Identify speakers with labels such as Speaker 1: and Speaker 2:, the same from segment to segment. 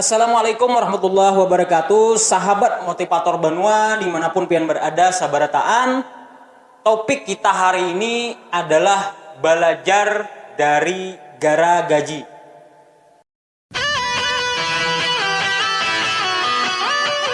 Speaker 1: Assalamualaikum warahmatullahi wabarakatuh sahabat motivator banua dimanapun pian berada sabarataan topik kita hari ini adalah balajar dari gara gaji.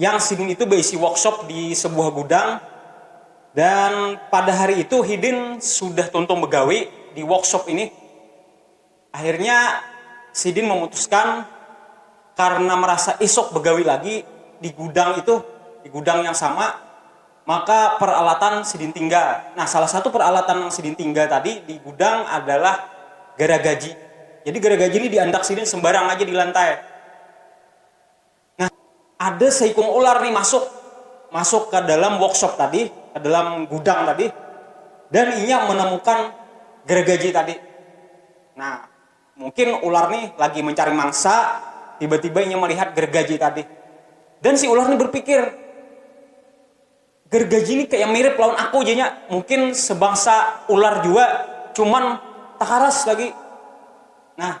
Speaker 1: Yang sidin itu baisi workshop di sebuah gudang dan pada hari itu hidin sudah tuntung begawi di workshop ini. Akhirnya sidin memutuskan karna merasa isuk begawi lagi di gudang itu, di gudang yang sama, maka peralatan sidin tinggal. Nah salah satu peralatan nang sidin tinggal tadi di gudang adalah garagaji. Jadi garagaji ni di andak sidin sembarang aja di lantai. Nah, ada seikung ular nih masuk, masuk ke dalam workshop tadi, ke dalam gudang tadi, dan inya menemukan gergaji tadi. Nah, mungkin ular nih lagi mencari mangsa, tiba-tiba inya melihat gergaji tadi. Dan si ular nih berpikir, gergaji ini kayak mirip lawan aku janya, mungkin sebangsa ular jua, cuman takaras lagi. Nah,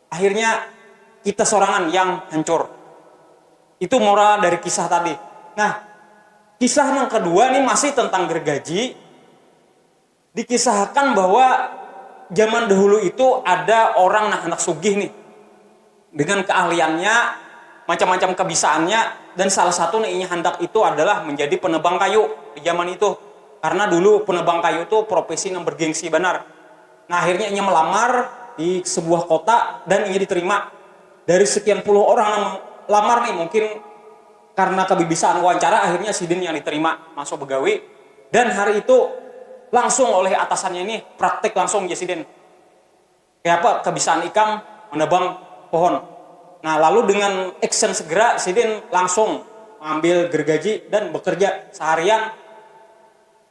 Speaker 1: Akhirnya kita sorangan yang hancur. Itu moral dari kisah tadi. Nah, kisah yang kedua nih masih tentang gergaji. Dikisahkan bahwa zaman dahulu itu ada orang nah handak sugih nih. Dengan keahliannya, macam-macam kebisaannya dan salah satu nang inya handak itu adalah menjadi penebang kayu di zaman itu. Karena dulu penebang kayu tu profesi nang bergengsi banar. Nah, akhirnya inya melamar di sebuah kota dan inya diterima. Dari sekian puluh orang nang melamar nih, mungkin karena kebibisaan wawancara, akhirnya sidin yang diterima masuk begawi. Dan hari itu langsung oleh atasannya nih, praktik langsung jar sidin, kayapa kebisaan ikam menebang pohon. Nah, lalu dengan action segera sidin langsung mengambil gergaji dan bekerja seharian.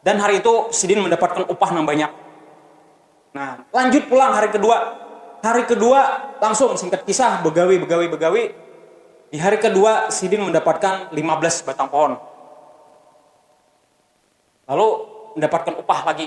Speaker 1: Dan hari itu sidin mandapatkan upah nang banyak. Nah, lanjut pulang hari kedua. Hari kedua langsung, singkat kisah, begawi, begawi, begawi. Di hari kedua sidin mandapatkan lima belas batang pohon. Lalu mandapatkan upah lagi.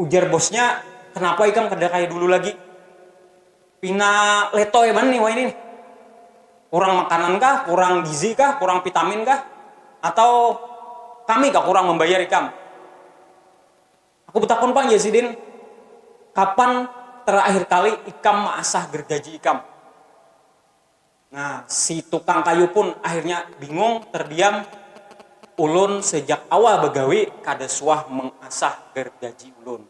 Speaker 1: Ujar bosnya, kenapa ikam kada kaya dulu lagi? Pina letoy banar nih wahini nih. Kurang makanan kah, kurang gizi kah, kurang vitamin kah, atau kami kah kurang mambayar ikam? Aku batakun pang jar sidin, kapan terakhir kali ikam maasah gergaji ikam? Nah, si tukang kayu pun akhirnya bingung, terdiam, Ulun sejak awal bagawi kada suah mengasah gargaji ulun.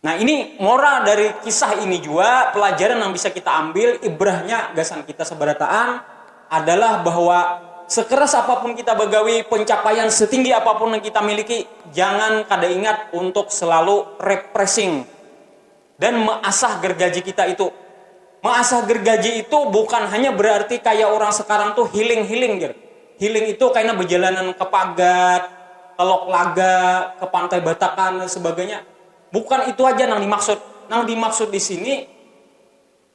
Speaker 1: Nah, ini moral dari kisah ini jua, pelajaran nang bisa kita ambil, ibrahnya gasan kita sabarataan adalah bahwa sekeras apapun kita bagawi, pencapaian setinggi apapun nang kita miliki, jangan kada ingat untuk selalu repressing. Dan measah gergaji kita itu. Measah gergaji itu bukan hanya berarti kaya urang sekarang tu hiling-hiling jar. Hiling itu kaina bejalanan ke pagat, ke lok laga, ke pantai batakan dan sebagainya. Bukan itu haja nang dimaksud. Nang dimaksud di sini.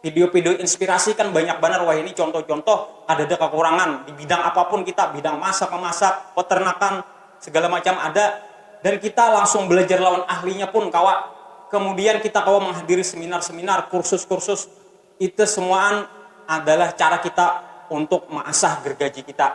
Speaker 1: Pidio-pidio inspirasi kan banyak banar wahini contoh-contoh, kadada kakurangan, di bidang apapun kita, bidang masak memasak, peternakan, segala macam ada, dan kita langsung belajar lawan ahlinya pun kawa, kemudian kita kawa menghadiri seminar-seminar, kursus-kursus, itu semuaan adalah cara kita untuk measah gergaji kita.